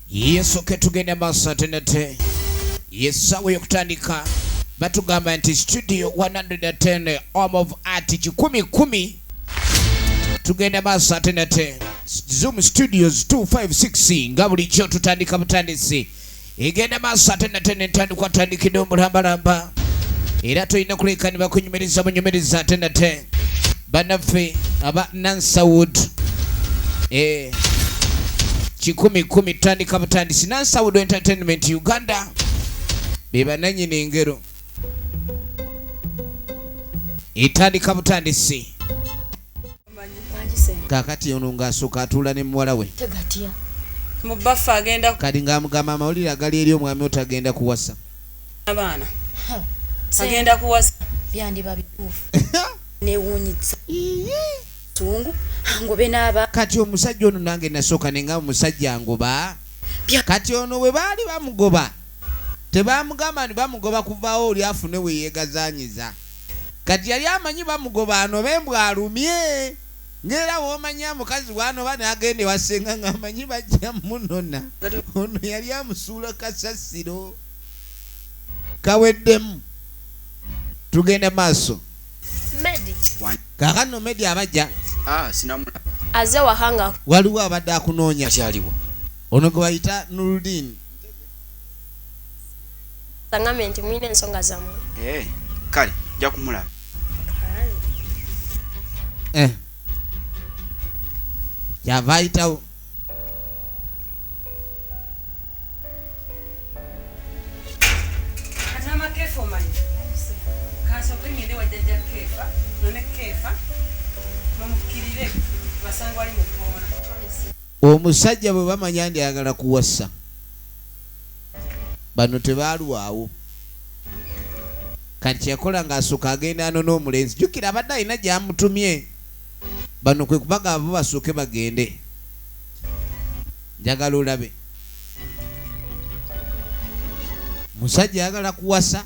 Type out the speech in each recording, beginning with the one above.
yesu ketugenda maaso ate nate yesaawa yokutandika batugamba nti studio 110 om of art kikumi kumi tugenda maaso ate nate zoom studios 256 nga bulijjo tutandika butandisi egenda maaso ate nate nentandikwa tandikidde omulambalamba era tulina kuleka ne bakunyumiriza bunyumiriza ate nate banaffe aba nansawood eh, kikumi kumi tandika butandisi nansawood entertainment uganda bebananyini engero etandika butandisi kakati ono ng'asooka atuula ne muwala we kati ng'amugamba amawulire agali eri omwami otagenda kuwasa abaana agenda kuwasa byandiba bituufu newunyisa tungu angobe n'aba kati omusajja ono nange nasooka ne nga omusajja angoba kati ono bwe baali bamugoba tebamugamba ni bamugoba kuvaawo oli afune we yeegazanyiza Kati yali amanyi bamugoba anobe mbu alumye nga era womanyaa mukazi bwanoba nagenda ewa senga nga amanyi bajja munona ono yali amusuula kasasiro kaweddemu tugenda maaso kakano medi abaja ah, aze wahanga waliwo abadde akunoonya ono gwebayita nurudini sangambe nti mulina ensonga zammwe eh, kale nja kumulaba eh. kyava ayitawo omusajja bwe bamanya ndi ayagala kuwasa bano tebaalwawo kati kyeyakola ng'asooka agenda ano n'omulenzi jjukira abadde alina gyamutumye bano kwe kubaga abo basooke bagende njagala olabe musajja ayagala kuwasa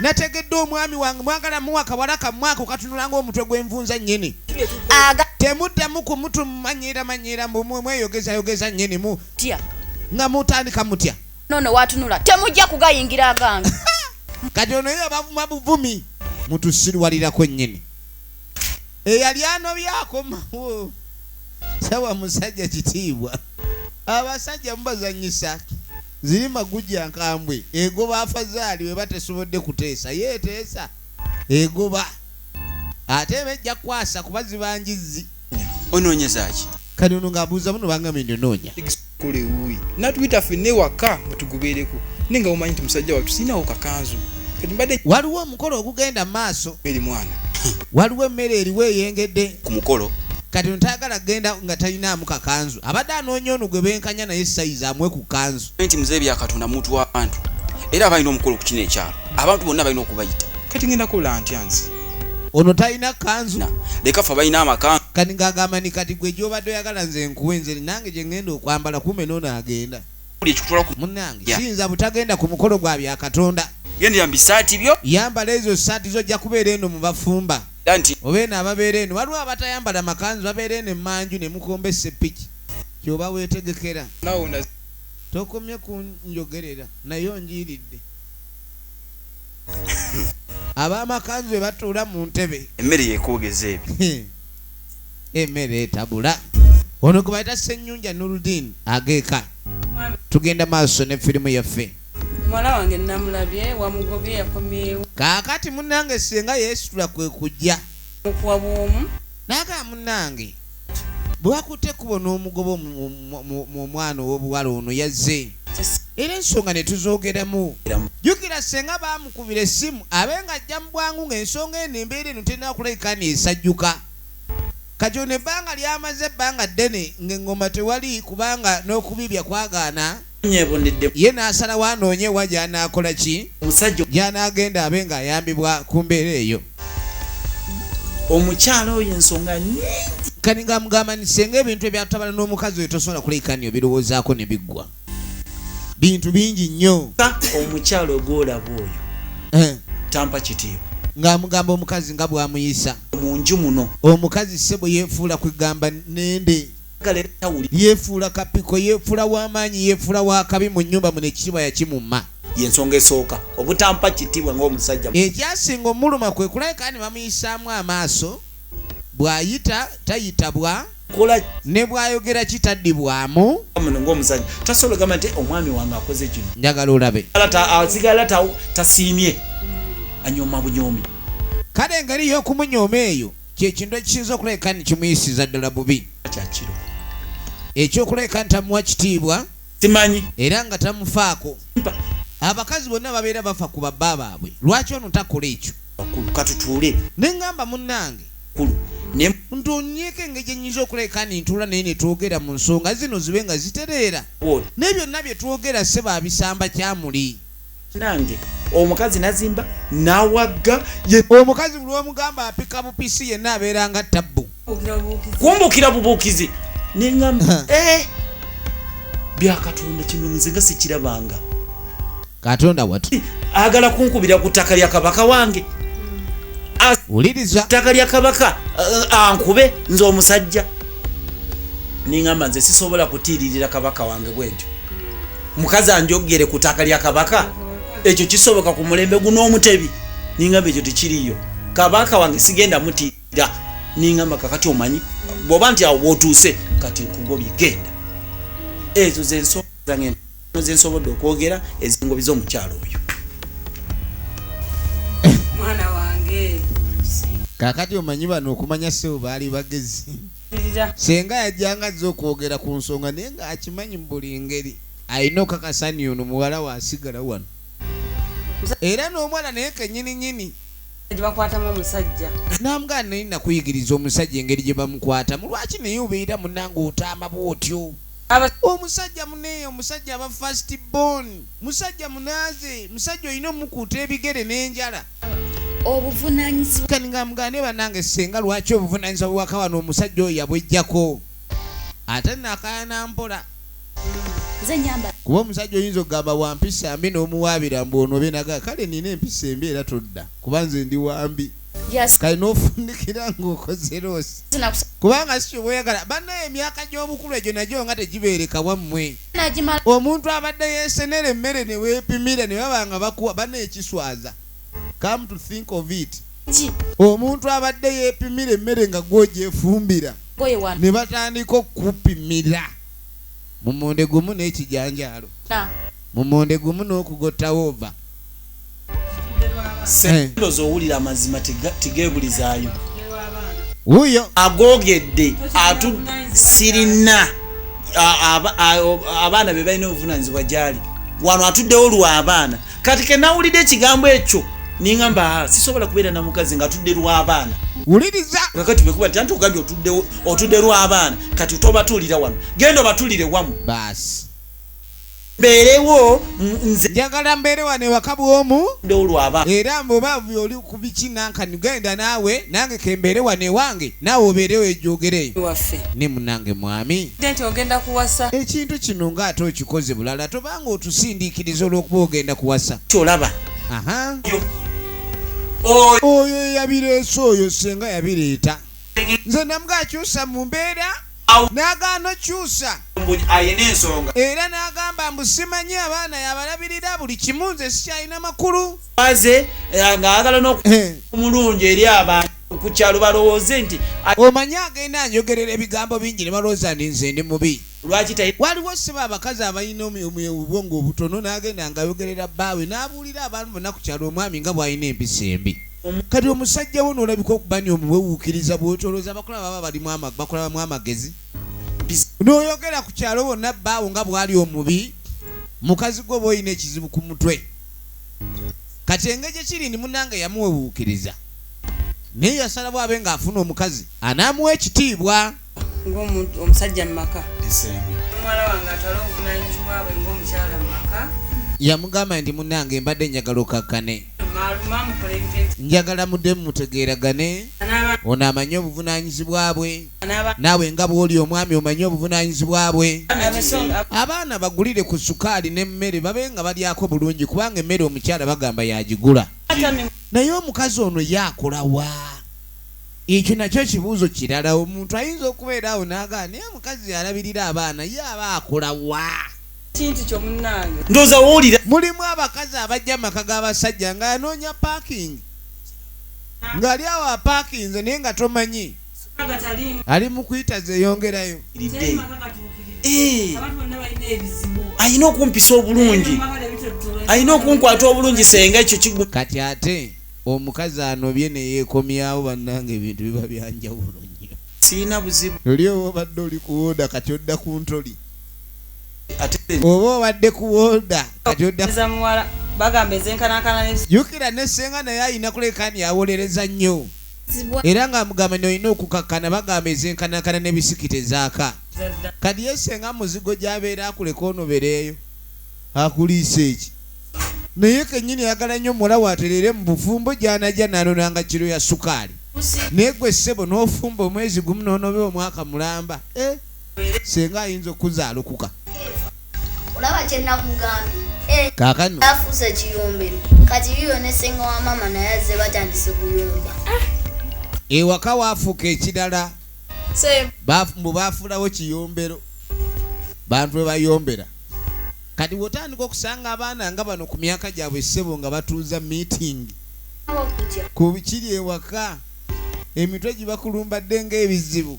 nategedde omwami wange mwagala muwa kawala kamwako katunula ngaomutwe gwenvunza nyini temuddamu kumutu mumanyira manyira mweyogezayogeza nyini mu nga mutandika mutya nono watunula temujja kugayingira agange kati ono yo bavuma buvumi mutusirwalirako nyini eyali anobyakomawo sawa musajja kitiibwa abasajja mubazanyisaki Zirima gujja nkambwe egoba afazaali weba tesobodde kuteesa ye eteesa egoba ate eba ejja kukwasa kuba ziba njizzi. Onoonyeza ki? Kati ono ng'abuuza muno bangambye nti onoonya. Kola ewuuyi natuyita fenna ewaka mutugubeereko naye nga mumanyi nti musajja wattu sirinawo kakanzu kati mbadde. Waliwo omukolo ogugenda mu maaso. Eri mwana. Waliwo emmere eriwo eyengedde. Ku mukolo. Kati ono tayagala kugenda nga talinaamu kakanzu. Abadde anoonya ono gwe benkanya naye sayizi amuwe ku kanzu. Nti mzee bya Katonda muntu w'abantu era aba alina omukolo ku kino ekyalo. Abantu bonna balina okubayita. Kati ngenda kola ntya nze? Ono talina kanzu. Leka ffe abalina amakanzu. Kati ng'agamba ni kati gwe gy'obadde oyagala nze nkuwe nze nange gye ngenda okwambala kumbe n'ono agenda. Munnange siyinza butagenda ku mukolo gwa bya Katonda. Gendera mu bisaati byo. Yambala ezo ssaati zo ojja kubeera eno mu bafumba. Era nti. Oba eno ababeera eno waliwo abatayambala makanzu babeera eno emmanju ne mukomba esseppiki ky'oba weetegekera. Tokomye kunjogerera naye onjiiridde. Ab'amakanzu be batuula mu ntebe. Emmere yekoogeza ebyo. Emmere etabula. Ono gwe bayita Ssennyunja Nurudeen ageeka. Tugenda maaso ne firimu yaffe. muwala wange namulabye wamugobye yakomyewo kaakati munange senga yeesitula kwe kujja mukuwa bwomu naagaa munange bwe wakutte ekkubo n'omugobo mu omwana ow'obuwala ono yazze era ensonga ne tuzoogeramu jjukira senga baamukubira essimu abe nga ajja mu bwangu ng'ensonga eno embeera eno terina kulabika neesajjuka kati ono ebbanga lyamaze ebbanga ddene ng'eŋŋoma tewali kubanga n'okubibya kwagaana ye n'asalawo anoonye ewa gy'anaakola ki gy'anaagenda abe ng'ayambibwa ku mbeera eyo omukyala oyo ensonga nyingi kati nga mugamba nti senga ebintu ebyatabala n'omukazi oyo tosobola kulekanio birowoozaako ne biggwa bintu bingi nnyo omukyala ogwolaba oyo eh. tampa kitiibwa ng'amugamba omukazi nga bw'amuyisa mu nju muno omukazi ssebo yeefuula kwegamba nende yefuula kapiko yefuula wamaanyi yefuula wakabi mu nyumba muno ekitiibwa yakimumma yensonga esooka obutampa kitibwa ngaomusajja ekyasinga omuluma kwe kulabika ni bamuyisaamu amaaso bwayita tayitabwa ne bwayogera kitaddibwamu muno ngaomusajja tasobola ogamba nti omwami wange akoze kino njagala olabe asigala tasiimye anyoma bunyomi kale engeri yokumunyooma eyo kyekintu ekisinza okulabika nti kimuyisiza ddala bubi kyakiro ekyokulabika nti tamuwa kitiibwa simanyi era nga tamufaako abakazi bonna babeera bafa ku babba baabwe lwaki ono takola ekyo akulu katutuule ne ngamba munnange kulu ntunyeko engeri gyenyinza okulabika ni ntuula naye netwogera mu nsonga zino zibe nga zitereera naye byonna byetwogera seba abisamba kyamuli nange omukazi nazimba nawagga omukazi buli wemugamba apika bupisi yenna abeera nga tabbu kumbukira bubuukizi nengamba eh, byakatonda kino nze nga sikirabanga katonda watu agala kunkubira ku ttaka lya kabaka wange wuliriza ttaka lya kabaka eh, ankube nze omusajja nengamba nze sisobola kutiiririra kabaka wange bwentyo mukazi anjogere ku taaka lya kabaka mhm. ekyo kisoboka ku mulembe guno omutebi ningamba ekyo tekiriyo kabaka wange sigenda mutira ningamba kakati omanyi bwoba nti awo bwotuuse kati nkugobye genda ezo zensonga zange zensobodde okwogera ezingobi z'omukyalo oyo kakati omanyi bano okumanya sewo baali bagezi senga yajjanga azze okwogera ku nsonga naye ng'akimanyi mu buli ngeri alina okakasani ono muwala we asigala wano era n'omwana naye kenyini nyini gyebakwatamu omusajja nambwa naye nakuyigiriza omusajja engeri gye bamukwatamu lwaki naye obeera munanga otaama bwotyo omusajja muneeyo omusajja aba fast bon musajja munaaze musajja olina omukuuta ebigere n'enjala obuvunanyizibwa kati nga mugane banange senga lwaki obuvunanyizibwa bwaka wano omusajja oyo yabwejjako ate nakayana mpola kuba omusajja oyinza okugamba wampisa mbi nomuwaabira mbu ono benaga kale nina empisa embi era todda kuba nze ndi wambi kale nofundikira ngaokoze loosi kubanga sikyoba oyagala banaye emyaka gy'obukulu egyo nagyo nga tegibeereka wammwe omuntu abadde yesenera emmere newepimira nebaba nga bakuwa bana ekiswaza come to think of it omuntu abadde yepimira emmere nga gwojefumbira ne batandika okupimira mumonde gumu n'ekijanjaalo mumonde gumu n'okugottawo ova sendozi owulira amazima tigebulizayo wuyo agogedde atu sirina abaana be balina obuvunanyizibwa gyali wano atuddewo lwabaana kati kenawulidde ekigambo ekyo ningamba ah, sisobola kubeera na mukazi nga tudde lwabaana wuliriza kakati bekuba ti anti ogambye otudde lwabaana kati tobatuulira wano genda obatulire wamu baasi mbeerewo nze njagala mbeere wano ewaka bwomu ndolwaba era mbobaavu oli ku biki nankani genda naawe nange kembeere wano ewange naawe obeerewo ejogereyo waffe ne munange mwami nti ogenda kuwasa ekintu kino ng'ate okikoze bulala tobanga otusindiikiriza olw'okuba ogenda kuwasa kyolaba aha oyo eyabireese oyo senga yabireeta nze namuga akyusa mu mbeera n'agaana okyusa era n'agamba mbu simanyi abaana yabalabirira buli kimu nze sikyalina makulu aze eh, ng'ayagala n'omulungi eh. eri abantu ku kyalo balowooze nti omanyi agenda anyogerera ebigambo bingi ne balowooza ndi nze ndi mubi lwaki waliwo siba abakazi abalina obwongo obutono n'agenda ngayogerera bbaawe n'abuulira abantu bonna ku kyalo omwami nga bw'alina empisa embi kati omusajja wo nolabika okuba ni omuwewuukiriza bwotolooza abakola baba balimu bakolabamu amagezi noyogera ku kyalo bonna baawo nga bwali omubi mukazi gwe oba olina ekizibu ku mutwe kati engeri gyekiri ni munange yamuwewuukiriza naye yasalawo abe ng'afuna omukazi anaamuwa ekitiibwa ng'omusajja mu maka omuwala wange atwala obuvunanyizibwa bwe ng'omukyala mu maka yamugamba nti munange mbadde njagala okakkane njagala mudde mumutegeeragane ono amanye obuvunanyizibwa bwe naawe nga bwoli omwami omanye obuvunanyizibwa bwe abaana bagulire ku sukaali n'emmere babe nga balyako bulungi kubanga emmere omukyala bagamba yagigula naye omukazi ono ye akolawa Ekyo nakyo kibuuzo kirala. Omuntu ayinza okubeera awo n'agamba, Naye omukazi y'alabirira abaana ye aba akola wa? Kintu kyo munnange. Ndowooza w'owulira. Mulimu abakazi abajja mu maka g'abasajja ng'anoonya paakingi, ng'ali awo apaakinze naye nga tomanyi ali mu kuyita zeeyongerayo. Eh. alina okumpisa obulungi alina okunkwata obulungi senga ekyo kigwa kati ate Omukazi anobye neyekomyawo banange ebintu biba byanjawulo nyo. Sirina buzibu. Luli oba obadde oli ku woda kati odda ku ntoli. Oba obadde ku woda kati odda ku muwala bagamba ezenkanankana ne. Jukira ne senga naye ayina kulekani awolereza nyo. Era nga amugamba ni olina okukakana bagamba ezenkanankana ne bisiki tezaka. Kati ye senga muzigo gyabeera akuleka onobereyo. akuliise ki? Naye kennyini ayagala nnyo muwala we atereere mu bufumbo gy'anajja n'anonanga kiro ya sukaali. Naye ggwe ssebo n'ofumba omwezi gumu n'onobe omwaka mulamba? Eh, ssenga ayinza okukuzaalokuka. Olaba kye nakugambye. Eh, Kaakano. Afuuse kiyombero. Kati yiyo ne ssenga wa maama naye azze batandise kuyomba. Ewaka waafuuka ekirala. Mbu baafuulawo kiyombero. Bantu we bayombera. Kati wotandika okusanga abaana nga bano ku myaka gyabwe ssebo nga batuuza meeting ku kiri ewaka emitwe gibakulumbadde ng'ebizibu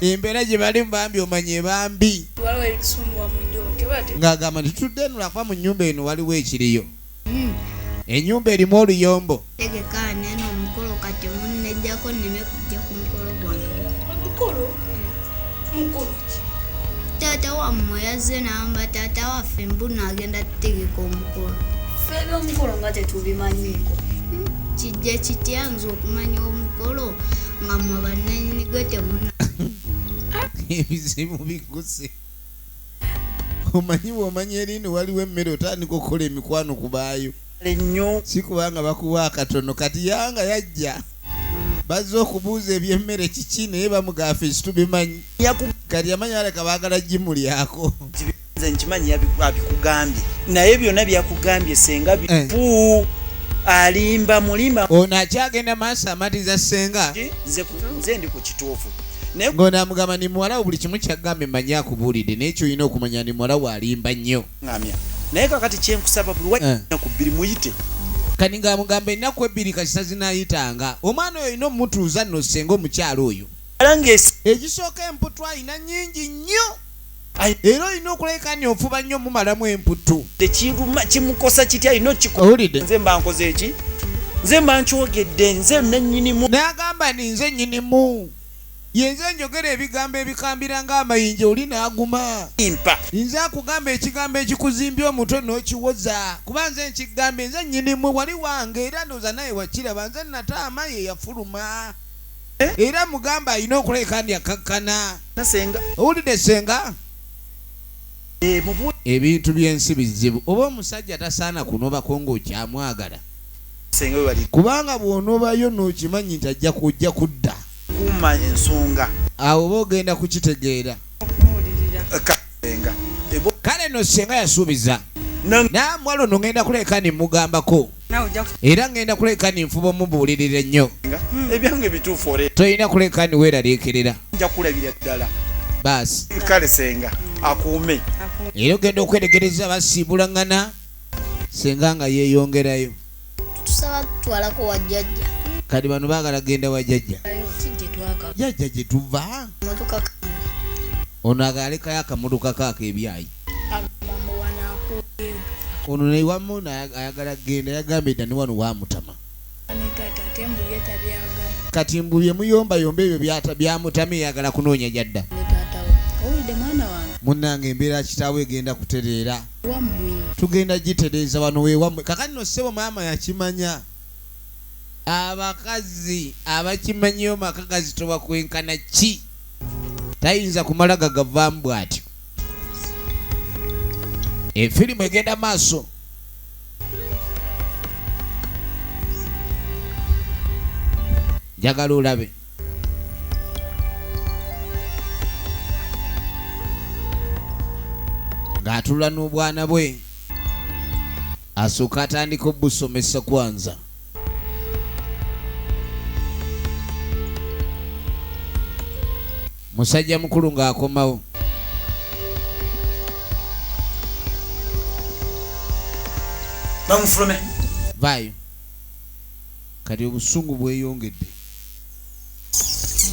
embeera gye balimu bambi omanya ebambi ng'agamba nti tudde eno lwakuba mu nnyumba eno waliwo ekiriyo Hmm. Enyumba erimu oluyombo. Tegeka neno omukolo kati munnejjako nneme kujja ku mukolo gwange. Omukolo? Mukolo ki? Taata wammwe yazze n'amba taata waffe mbuno agenda tutegeka omukolo. Ffe eby'omukolo nga tetubimanyiiko. Hmm. Kijja kitya nze okumanya omukolo nga mwe bannanyini gwe temuna. Ebizibu biguse. omanyi bwomanya erini waliwo emmere otandika okukola emikwano kubaayo nnyo si kubanga bakuwa akatono kati yanga yajja bazze okubuuza ebyemmere kiki naye bamugaafa ekitubimanyi kati yamanyi aleka baagala gimulyako nze nkimanyi abikugambye naye byonna byakugambye senga eh. bifu alimba mulima ono akyagenda maaso amatiza senga nze ndi ku kituufu ng'ono amugamba ni muwala wo buli kimu kyagambye manyi akubuulidde naye kyolina okumanya ni muwala wo alimba nnyo naye kakati kyenkusaba buli wanaku eh. bbiri muyite kani ng'amugamba ennaku ebbiri kasita zinayitanga omwana oyo olina omutuuza nno senga omukyalo oyo egisooka emputwa alina nyingi nnyo era olina okulabika ni ofuba nnyo mumalamu emputtu tekiruma kimukosa kitya alina okikoulidde nze mba nkoze eki nze mba nkyogedde nze nanyinimu nagamba ni nze nyinimu yenze njogera ebigambo ebikambira ng'amayinja oli n'aguma mpa nze akugamba ekigambo ekikuzimbya omutwe n'okiwoza kuba nze nkigamba enze nyinimu wali wange era ndooza naye wakiraba nze nataama ye yafuluma Eh? era mugamba alina okuleka ndi akakkana owulidde senga eh, ebintu byensi bizibu oba omusajja tasaana kunobako ngaokyamwagala kubanga bwonobayo nokimanyi nti ajja kujja kudda kuma ensonga awo oba ogenda kukitegeera kale no senga yasuubiza namwalo nongenda kuleka nemugambako era ngenda kuleka ni nfuba omubuulirira ennyo hmm. ebyange bituufu ore tolina kuleka ni weeraliikirira nja kulabira ddala baasi kale senga akuume era ogenda okweregereza basiibulangana senga nga yeeyongerayo tusaba tutwalako wajjajja kati bano baagala genda wajjajja jajja gye tuva ono agaalekayo akamudukako akeebyayi ono naye wamma ono ayagala genda yagambye dda ne wano wamutama kati mbu byemuyombayomba ebyo byamutama eyagala kunoonya gyadda munnange embeera kitaawe egenda kutereera tugenda gitereeza wano wewammwe kakati no ssebo maama yakimanya abakazi abakimanyiyo maka gazitoba kwenkana ki tayinza kumala gagavaamu bw'atyo efirimu egenda maaso njagala olabe ng'atula n'obwana bwe Asooka atandika obusomesa kwanza. Musajja mukulu ng'akomawo. Bamufulume. Vaayo. Kati obusungu bweyongedde.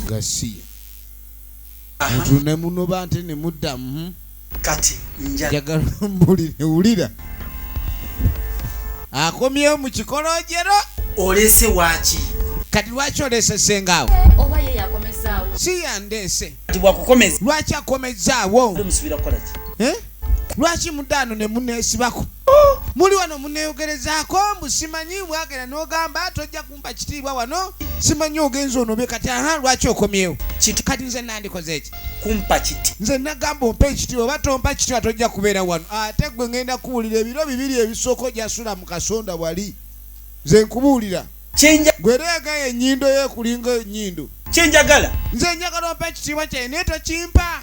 Gasiya. mutu ne munoba nte ne muddamu hmm? kati njagala mbulire wulira akomyewo mu kikolojero olese waki kati lwaki olese sengaawo si yandeese lwaki akomezaawo eh? lwaki mudaano ne muneesibako oh! muli wano muneeyogerezaako mbusimanyi bwagenda n'ogamba tojja kumpa kitiibwa wano simanyi ogenza onobe kati aha lwaki okomyewo kati nze nandikoze eki kumpa kiti nze nagamba ompa ekitiibwa oba tompa kitiibwa tojja kubeera wano ate gwe ngenda kuwulira ebiro bibiri ebisooka ojasula mu kasonda wali nze nkubuulira gwereega yenyindo yekulinga enyindo kyenjagala nze njagala ompa ekitiibwa kyaye naye tokimpa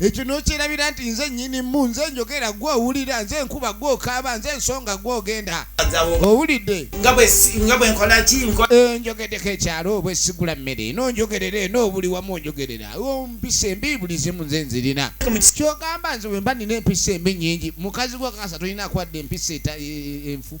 ekyo nokyerabira nti nze nyinimu nze njogera gwe owulira nze nkuba gwe okaaba nze ensonga gwe ogenda owulidde eh, njogedeko ekyalo obwe sigula mmere nonjogerera eno obuli wamu onjogerera mpisa embi buli zimu nze nzirina kyogamba nze wemba nina empisa embi nyingi mukazi gwe kasa tolina kwadde empisa e, e, enfu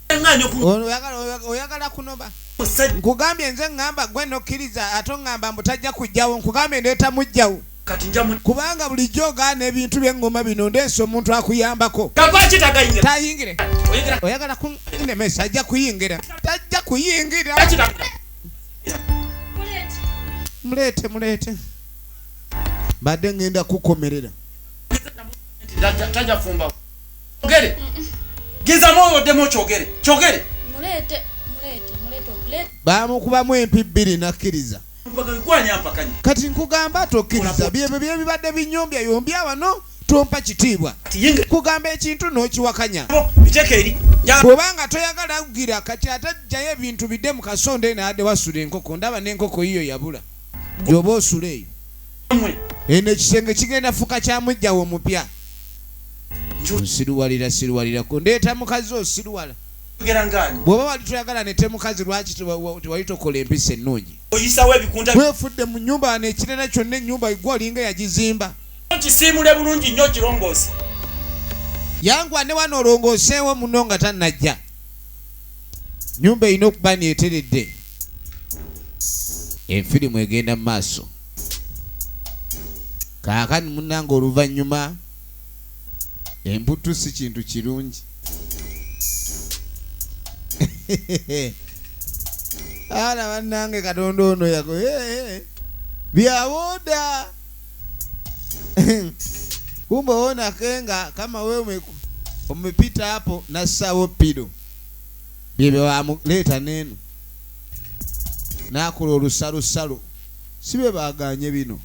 oyagala kunoba nkugambye nze ŋŋamba gwe nokkiriza ate oŋŋamba mbu tajja kujjawo nkugambye ndeeta mujjawo kubanga bulijjo ogaana ebintu byeŋŋoma bino ndeesa omuntu akuyambako tayingire oyagala kunemesa ajja kuyingira tajja kuyingira muleete muleete mbadde ŋŋenda kukomerera Ogere. Giza moyo odemo chogere. Chogere. Mulete, mulete, mulete, mulete. Ba mukuba mu empi biri nakiriza. Kati nkugamba tokiriza byebyo byebibadde binyombya yombya wano tompa kitiibwa kugamba ekintu nokiwakanya bwobanga toyagala kugira kati ate jjayo ebintu bidde mu kasonda eno ade wasula enkoko ndaba nenkoko yiyo yabula gyoba osula eyo eno ekisenge kigenda fuka kya mujjawo omupya nsiruwalira siruwalirako ndeeta mukazi osiruwala bwoba wali toyagala nete mukazi lwaki tewali tokola empisa ennungi wefudde mu nyumba wano ekirala kyonna enyumba igwe olinga yagizimba kisiimule bulungi nnyo kirongoosi yangwa ne wano olongooseewo muno nga tannajja nyumba erina okuba neeteredde Enfirimu egenda mu maaso. Kaakati munnange oluvannyuma emputtu si kintu kirungi. Ala bannange Katonda ono yago byawooda kumbe owonake nga kama wewe umepita hapo na sawo pido byebebamuleeta neeno nakola olusalosalo si bebaganye bino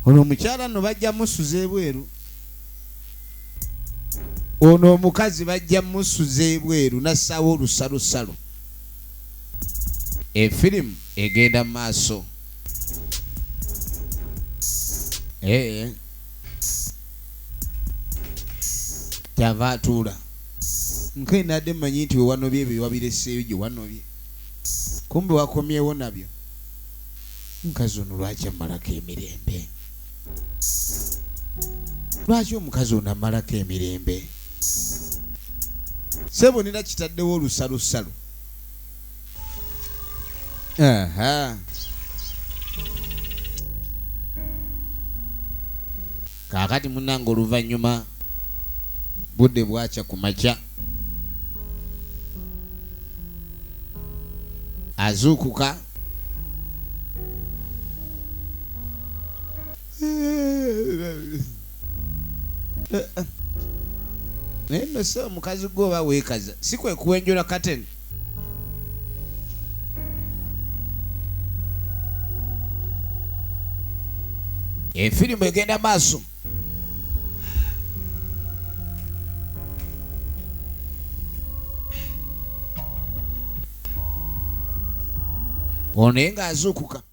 ono omukyala no bajja musuza ebweru ono omukazi bajja musuza ebweru nassaawo olusalosalo efirimu egenda mu maaso eh, eh. kyava atuula nkae nadde manyi nti wewanobye ebyo wabireseeyo gye wanobye kumbe wakomyewo nabyo mukazi ono lwaki amalako emirembe lwaki omukazi ono amalako emirembe sebonera kitaddewo olusalusalu Aha. kaakati munange oluvannyuma budde bwakya ku makya azuukuka naye nno si omukazi gwe oba weekaza si kwe kuwenjola kateni efirimu egenda maaso ono naye ng'azuukuka